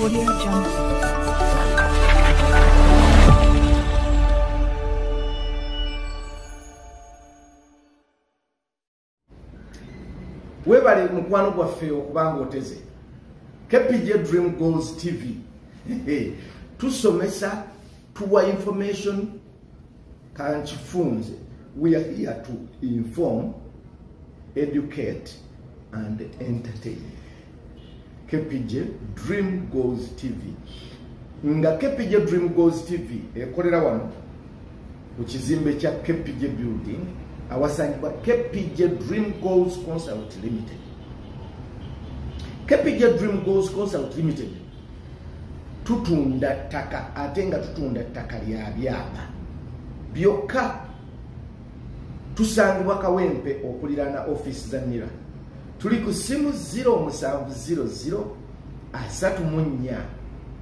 Audio Jungle. webale mukwano gwaffe okubanga oteze kpj dream goals tv tusomesa tuwa information kankifunze we are here to inform educate and entertain kpj dream goes tv nga kpj dream goes tv ekolera wano ku kizimbe kya kpj building awasangibwa kpj dream goals consult limited kpj dream goals consult limited tutunda ttaka ate nga tutunda ttaka lya byapa byokka tusangibwa kawempe okuliraana ofiisi za nira tuli ku ssimu 0700 asatu mu nnya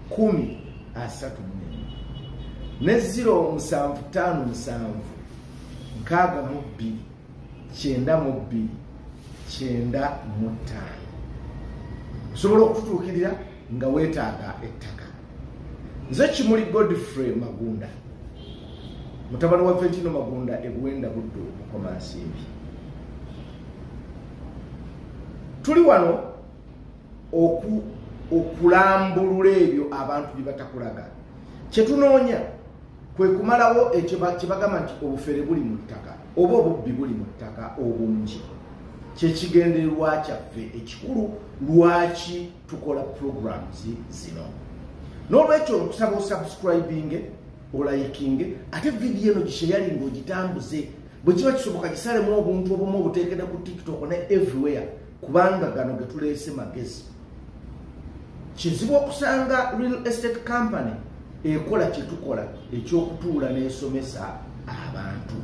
kumi asatu mu nnya ne 0757 nkaaga mu bbiri kyenda mu bbiri kyenda mu ttaano osobola okututuukirira nga weetaaga ettaka nze kimuli godfrey magunda mutabani wa fentino magunda ebuwenda buddu mukoma nsimbi tuli wano okulambulula ebyo abantu bye batakulaga kyetunoonya kwe kumalawo ekyo kye bagamba nti obufere buli mu ttaka oba obubbi buli mu ttaka obungi kyekigendererwa kyaffe ekikulu lwaki tukola programs zino n'olwekyo okusaba osubscribinge olayikinge ate vidiyo eno gisheyali ngaogitambuze bwe kiba kisoboka gisalemu obuntu obumu obuteekede ku tiktok ne everywhere kubanga gano getuleese magezi kizibu okusanga real estate company ekola kyetukola ekyokutuula n'esomesa abantu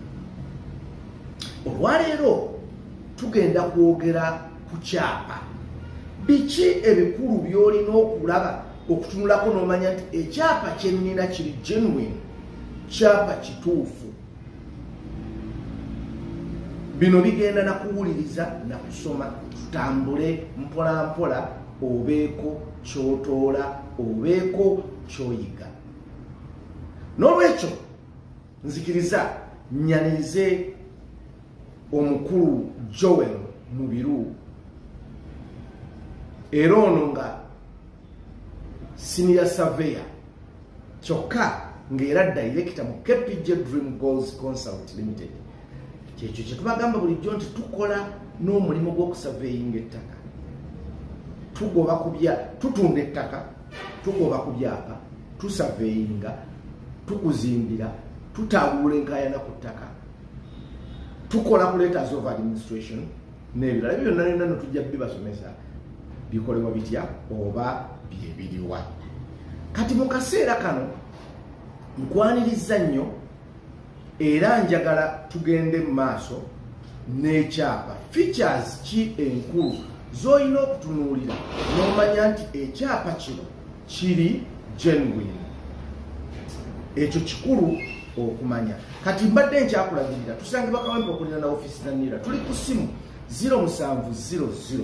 olwaleero tugenda kwogera ku kyapa biki ebikulu byolina okulaba okutunulako n'omanya nti ekyapa kyennina kiri genuine kyapa kituufu bino bigenda na kuwuliriza na kusoma tutambule mpolampola obeeko kyotoola obeeko kyoyiga n'olwekyo nzikiriza nyanirize omukulu joel mubiru era ono nga siniya saveya kyokka ng'era dayirekita mu kpj dream goals consult limited kyekyo kyetubagamba bulijjo nti tukola n'omulimu gw'okusaveyinga ettaka tugoba kubya tutunda ettaka tugoba ku byapa tusaveyinga tukuzimbira tutambula enkayana ku ttaka tukola ku letters of administration nebirala ebyo byonna byonna netujja bibasomesa bikolebwa bitya oba byebiriwa kati mu kaseera kano nkwaniriza nnyo era njagala tugende mu maaso n'ekyapa features ki enkulu z'olina okutunuulira n'omanya nti ekyapa kino kiri genuine ekyo kikulu okumanya kati mbadde nkyakulagirira tusange bakawempa okulina na ofisi za nira tuli ku simu 0700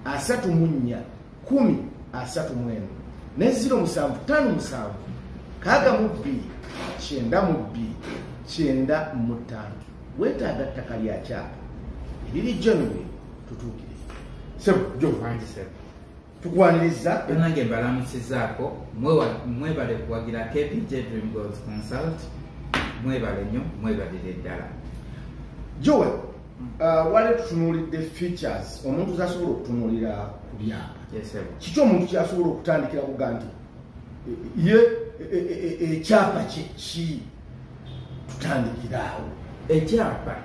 asatu munya kumi asatu mwenu ne 07 tano musanvu kaga mu bbiri kyenda mu bbiri kyenda mu ttaano weetaaga ttaka lya kyapa eriri genuine tutuukire sebo jo wangi sebo tukwaniriza banange mbalamusizaako mwebale kuwagira kpj dream goals consult mwebale nnyo mwebalire ddala joel uh, wali tutunuulidde features omuntu zasobola okutunuulira ku byapa kiki omuntu kyasobola okutandikira kuga nti ye ekyapa kyeki e, e, e, tutandikira awo ekyapa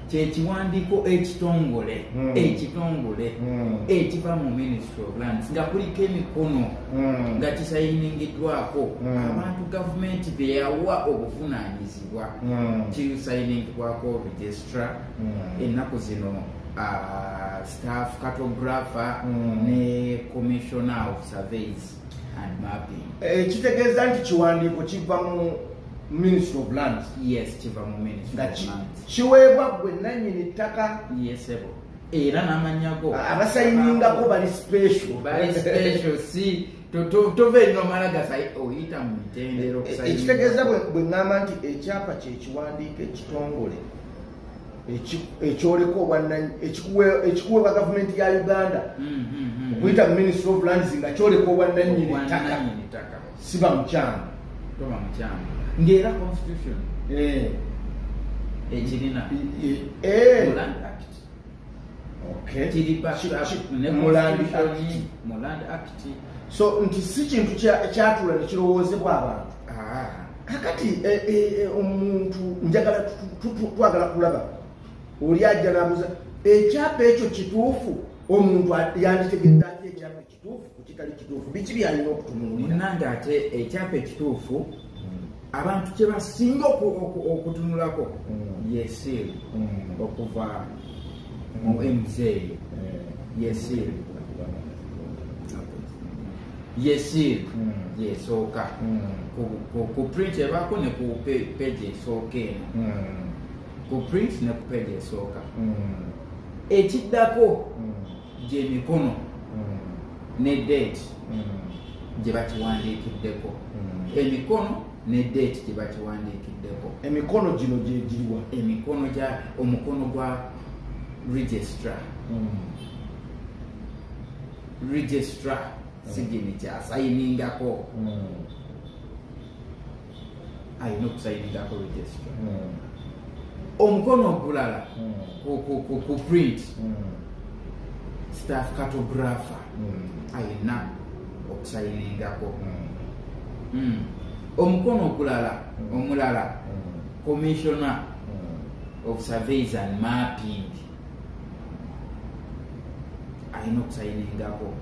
kyekiwandiiko ekitongole hmm. ekitongole hmm. ekiva mu ministry of lands nga kuliko emikono hmm. nga kisayiningiddwako abantu gavumenti beyawa obuvunanyizibwa kisayiningibwako registra ennaku zino uh, staff cartographer ne commissioner of surveys Eh, kitegeeza nti kiwandiiko kiva mu ministry of lands yes kiva mu ministry nga kiweebwa gwe nanyini ttaka yesebo era namanyago ah, abasayiningako bali special bali special si tova erino mala gasayi oyita mu mitendero eh, eh, ekitegeeza bwe ŋŋamba nti ekyapa kyekiwandiiko ekitongole ekyoleka obwananyi ekikuweebwa gavumenti ya uganda mm, mm, mm, okuyita mu ministry of lands nga kyoleka obwananyini ttaka siba mukyamu ngaera constitution eh. ekirina eh, eh. so nti si kintu kyatula nekirowoozebwa abantu ah. kakati eh, eh, eh, omuntu njagala twagala kulaba oli ajja nabuza ekyapa ekyo kituufu omuntu yanditegedde ati ekyapa ekituufu kukitali kituufu biki byalina okutunulmunange ate ekyapa ekituufu abantu kyebasinga okutunulako mm. yesiiru mm. okuva muwe mzeeyi yesir yesir hmm. yesooka hmm. ku print ebaako ne ku page esooka eno hmm. ku print ne ku page esooka ekiddako gyemikono ne date gye bakiwandiikiddeko emikono ne date gye bakiwandiikiddeko emikono gino gyegiriwa emikono gya omukono gwa registra hmm. registra hmm. sigini kyasayiningako hmm. alina okusayiningako registra omukono ogulala ku print staff cartographer ayina okusayiningako hmm. omukono okulala omulala commissioner of surveys and mapping ayina okusayiningako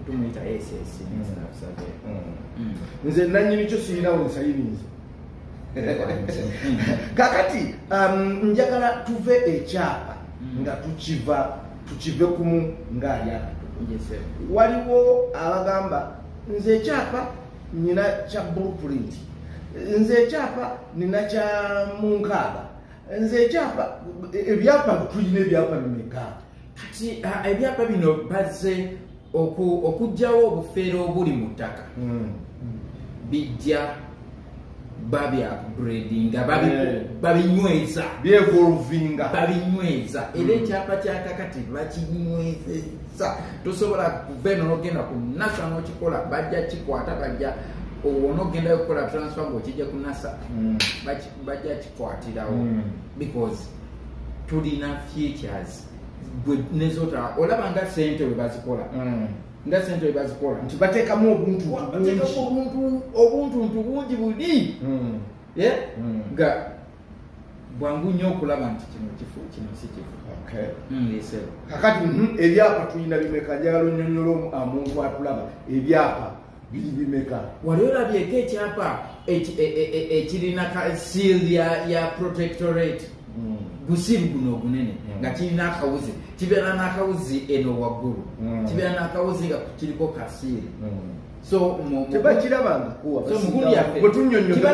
tumuyita ss nze nanyini kyo siyinawo nsayiniza kakati um, njagala tuve ekyapa hmm. nga tukiva tukive kumu ng'ali akato waliwo abagamba nze ekyapa nyina kya blueprint nze ekyapa nina kya munkaaga nze ekyapa ebyapa tulina ebyapa bimeka kati ebyapa bino bazze okugyawo obufeero obuli mu ttaka hmm. bijja babyagradinga eh. babinyweza byevolvinga babinyweza hmm. era ekyapa kyakakati bakinywezeza tosobola kuva eno nogenda ku nasa nokikola bajja kikwata bajja owona ogendayo okukola transfer ngaokijja ku nasa hmm. bajja kikwatirawo because tulina futures gwe nezotala olaba nga sente webazikola mm. nga sente webazikola nti batekamu obuntu obuntu nti bungi buli mm. eh? mm. nga bwangu nnyo okulaba nti kino kifu kino si kifu kakati mhm, ebyapa tulina bimeka njagala onyonyola omuntu atulaba ebyapa biri bimeka wali olabyeko ekyapa e, e, e, ekirina seal ya protectorate hmm. gusiru guno ogunene hmm. nga kirina akawuzi kibeera n'akawuzi eno waggulu hmm. kibeera n'akawuzi nga kiriko kasiiri so tebakirabanga kuwa so mukulu yaffe bwetunyonyoa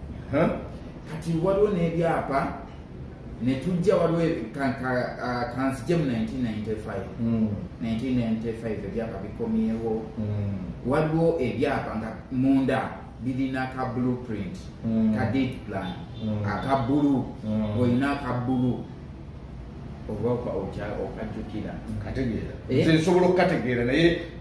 kati waliwo n'ebyapa ne tujja waliwo kanzije mu 1995 ebyapa bikomyewo hmm. waliwo ebyapa nga munda birina ka blueprint hmm. ka date plan hmm. aka bulu olina aka bulu oba okajjukira nsobola eh? okukategeera naye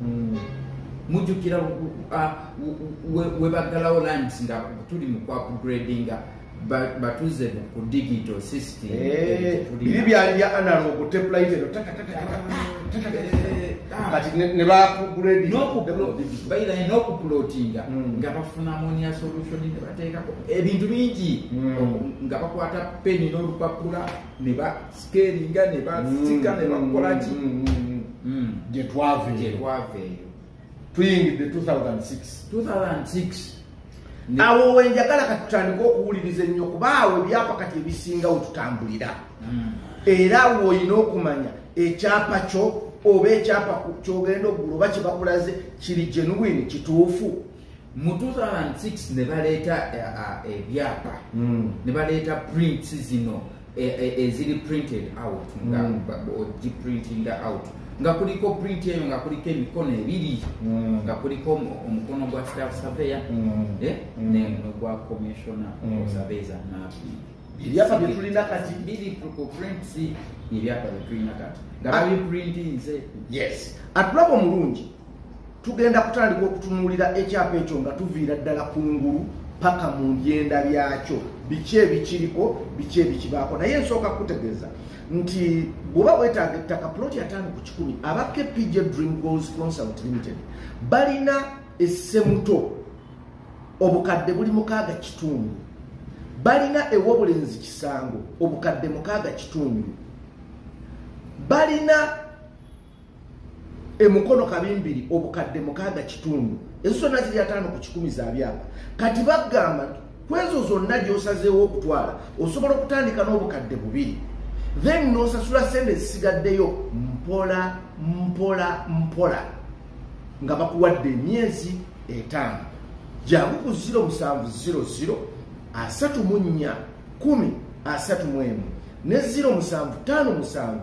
hmm. mujukira webaggalawo lands nga tuli mu kwapgradinga batuze ku digital system eh, biri byali bya analog teplaitero kati ne bapgrading n'okuplotinga hmm. nga bafuna monia solution ne bateekako ebintu bingi hmm. nga bakwata peni n'olupapula ne ba sikeeringa ne basika ne bakola ki gye twava eyo tuyingidde 2006 awo wenjagala katutandika okuwuliriza ennyo kuba awo ebyapa kati ebisinga wetutambulira hmm. era awo olina okumanya ekyapa kyo oba ekyapa kyogenda okugula oba kyebakulaze kiri genuwini kituufu mu 2006 ne baleeta eh, ah, ebyapa eh, hmm. ne baleeta prints zino eh, eziri printed out nga hmm. ogiprintinga out nga kuliko print eyo nga kuliko emikono ebiri hmm. nga kuliko omukono gwa staff surveyor negwa commissiona surveysa nabi ebyapa byetulina kati biri ku prints ebyapa byetulina kati nga ah. babiprintinze yes atulaba omulungi tugenda kutandika okutunuulira ekyapa ekyo nga tuviira ddala ku ngulu paka mu byenda byakyo biki ebikiriko biki ebikibaako naye nsooka kukutegeeza nti bwoba wetaaga ettaka puloti ataano ku kikumi aba kpj dream goals consult limited balina essemuto obukadde buli mukaaga kitundu balina ewobulenzi kisango obukadde mukaaga kitundu balina emukono kabimbiri obukadde mukaaga kitundu ezo zonna ziri ataano ku kikumi za byapa kati bagamba nti kwezo zonna gyosazeewo okutwala osobola okutandika n'obukadde bubiri then nosasula sente ezisigaddeyo mpola mpola mpola nga bakuwadde emyezi etaano jangu ku 0700 asatu mu nnya kumi asatu mu emu ne 07 tano musanvu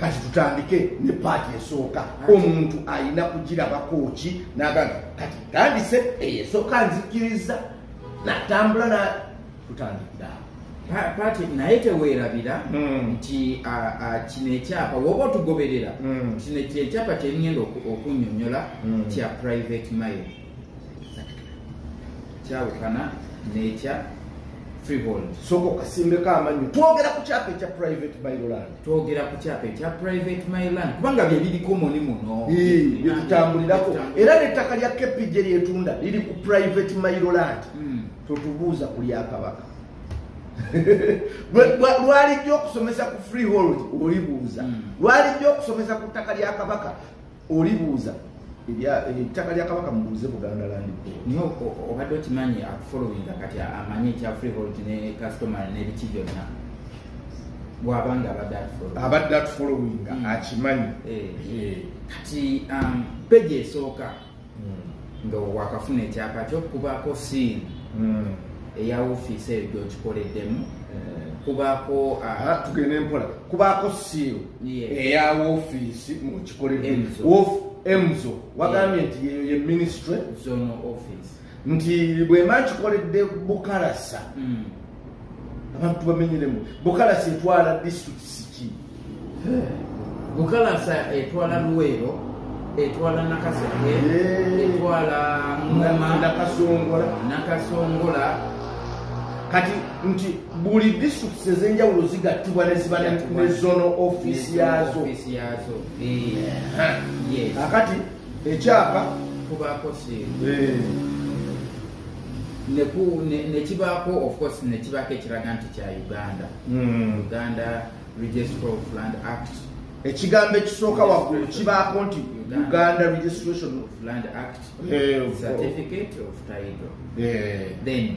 kati tutandike ne paati esooka omuntu alina kugirabako ki nagamba kati tandise eyo esooka nzikiriza natambula na tutandikira paati naye teweerabira hmm. nti kino ekyapa woba otugoberera hmm. kino kyekyapa kyengenda okunyonyola hmm. kya private mile kyawukana nekya freehold soko kasimbeko amanyo twogera ku kyapa ekya private myland twogera ku kyapa ekya private myland kubanga byebiriko muni muno byetutambulirako era nettaka lya kepije lyetunda liri ku private myland hmm. totubuuza ku lyakabaka lwalijja okusomesa ku freehold olibuuza hmm. lwalijja okusomesa ku ttaka lya kabaka olibuuza ettaka lya kabaka mubuuze buganda landi naye obadde okimanyi akufolowinga kati amanyi ekya freehold ne customer nebiki byonna bwabanga abadde atufolowinga abadde atufolowinga hmm. akimanyi eh, eh. kati um, peji esooka hmm. nga wakafuna ekyapa kyokubaako siini hmm. eya ofiisi eyo gyokikoleddemu eh. kubaako ah, ah, tugende mpola kubaako siiru eya wofiisi mukikoleemzo wagambye nti yeyo ye ministry nti bwemba nkikoledde bukalasa hmm. abantu bamenyeremu bukalasa etwala district siki bukalasa etwala luweero etwala nakaseke etwala ngoma nakasongola nakasongola kati nti buli districts ezenjawulo zigattibwa neziba ne zono office yazo akati ekyapa kubaako nekibaako ofcourse nekibaako ekiraga nti kya uganda hmm. uganda registry of land act ekigambo ekisooka waggulu kibaako nti uganda registration of land act eh, certificate of title eh. then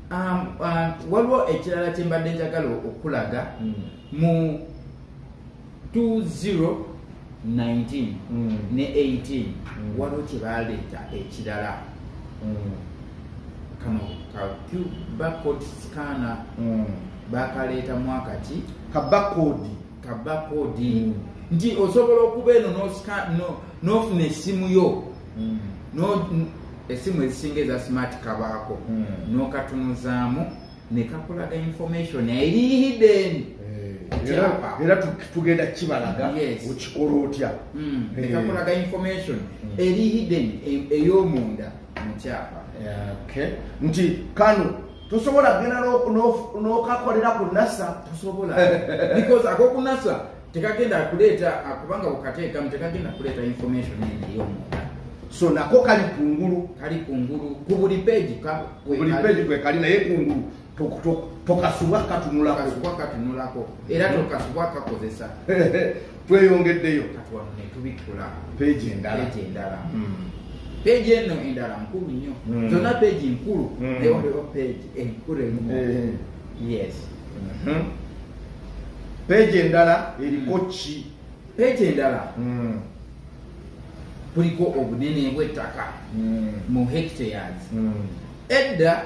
um, uh, waliwo ekirala kyembadde njagala okulaga mm. mu 2019 mm. ne 18 mm. waliwo kyebaleeta ekirala mm. kano ka cuba code scanner mm. bakaleeta mwaka ki kabakodi kabakodi nti osobola okuba eno nofuna esimu yo hmm. esimu ezisinga eza smart kabaako hmm. nokatunuzaamu nekakulaga information eri hidden eh, era tugenda kibalaga okikola otya hmm. eh. nekakulaga information eri hidden e, eyomunda mukyapa nti kano tosobola genda nokakolera ku nasa tosobola because akokunasa tekagenda akuleeta kubanga bukateekamu tekagenda kuleeta information eyomunda so nako kali kungulu kali kungulu ku buli peegi buli peegi kwekali naye kungulu tokasubwa katunulako era tokasubwa kakozesa tweyongeddeyo netubikkula peegi endala peegi hmm. eno endala nkulu nnyo hmm. zonna peegi nkulu hmm. naye waliwo peegi enkulu emu eh. yes mhm. peegi endala eriko ki peegi endala kuliko obunene bw'ettaka mu hectares edda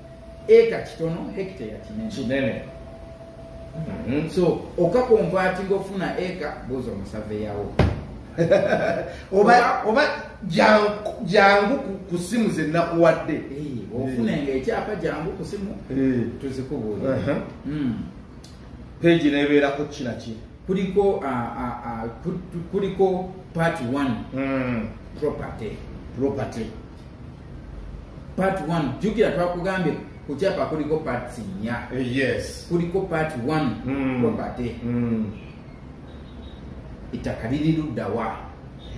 eka kitono hekiteya kinene mm-hmm. so okakonvatinga ofuna eka buuza omusaveyawo oba jangu ku simu ze nakuwadde ofunenga ekyapa jangu ku simu tuzikubuuli mm. peegi nebeerako kinaki kuliko kuliko part one mm. property property part 1 jukira twakugambye ku kyapa kuliko parts nnya eh, yes kuliko part 1 mm. property mm. ettaka liri luddawa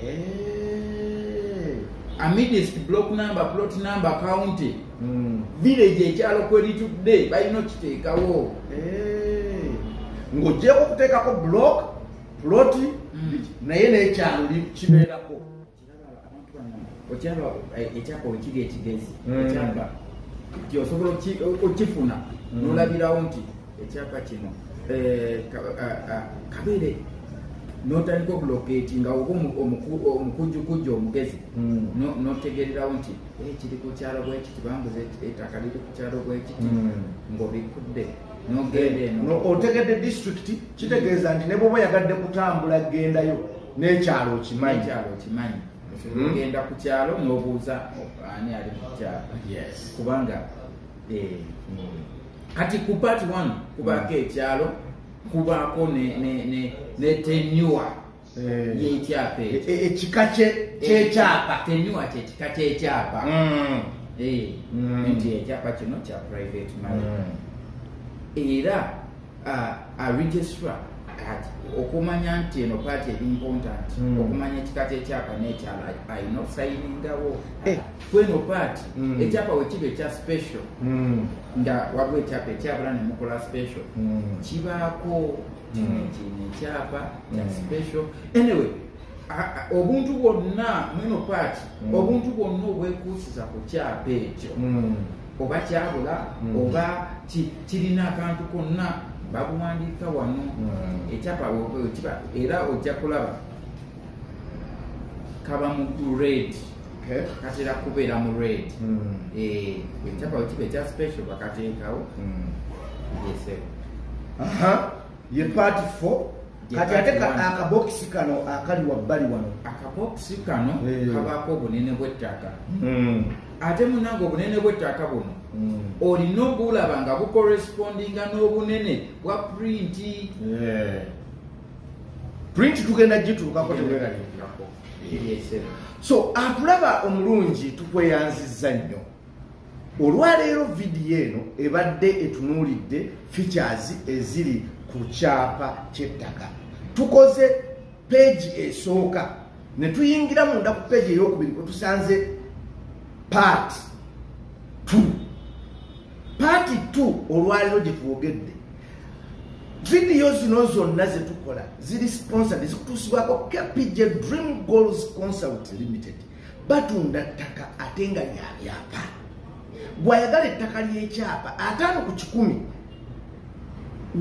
hey. Eh. amidist block number plot number county mm. village ekyalo kweritudde balina okiteekawo hey. Eh. ng'ogyeko okuteekako block ploti mm. naye n'ekyalo kibeerako okyaba eh, ekyapa wekiga ekigezi hmm. ekyapa ti osobola okifuna hmm. nolabirawo nti ekyapa kino eh, kabeere notandika okuloketi nga oba omukujukujju omugezi hmm. notegererawo nti eh, kiri kukyalo bwekiti bambuza etaka liri kukyalo bwekiti ngaobikudde otegedde district kitegeeza nti ne bwoba yagadde kutambula gendayo n'ekyalo okimanyi hmm? genda ku kyalo n'obuuza ani ali ku kyalo kubanga eh, hmm. kati ku part one kubaako hmm. ekyalo kubaako ne tenua Eh. yekyapa e, e, ekika kyekyapa eh, tenyuwa kyekika kyekyapa mm. eh, mm. nti ekyapa kino kya private money mm. era aregistra okumanya nti eno paati eri important okumanya ekika kyekyapa nekyala alina okusainingawo kweno paati ekyapa wekiba ekya special nga waliwo ekyapa ekyabula nemukola special kibaako kino hmm. kino ekyapa kya hmm. special anyway obuntu bwonna mweno paati hmm. obuntu bwonna obwekuusiza ku kyapa ekyo oba kyabula oba kirina akantu konna babuwandiika wano ekyapa era ojja kulaba kaba mu red katera kubeera mu red ekyapa wekiba ekya special bakateekawo yesebo ye part four kati ate akabokisi kano akali wabbali wano akabokisi kano eh. kabaako obunene bw'ettaka hmm. ate munange obunene bw'ettaka buno hmm. olina obulaba nga bukorespondinga n'obunene bwa purinti eh. print tugenda gituukako teweraliikirako so atulaba omulungi tukweyanzizza nnyo olwaleero vidiyo eno ebadde etunuulidde features eziri ku kyapa kyettaka tukoze peegi esooka ne tuyingira munda ku peegi eyokubiri kwetusanze part two paati t olwaliro gye twogedde vidiyo zino zonna ze tukola ziri sponsored zikutuusibwako kpj dream goals consult limited batunda ttaka ate nga lyabyapa gwayagala ettaka ly'ekyapa ataano ku kikumi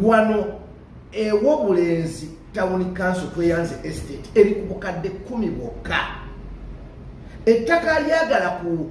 wano ewobulenzi tawuni kanso tweyanze estate eri ku bukadde kumi bwokka ettaka lyagala ku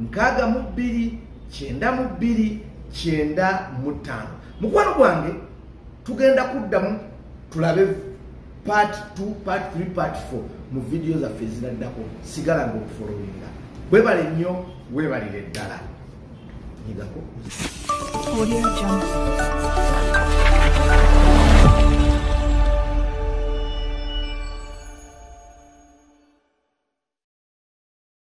nkaaga mu bbiri kyenda mu bbiri kyenda mu ttaano mukwano gwange tugenda kuddamu tulabe part 2 part 3 part 4 mu vidiyo zaffe eziraddako sigala nga okufolowinga webale nnyo webalire ddala nyigako Audio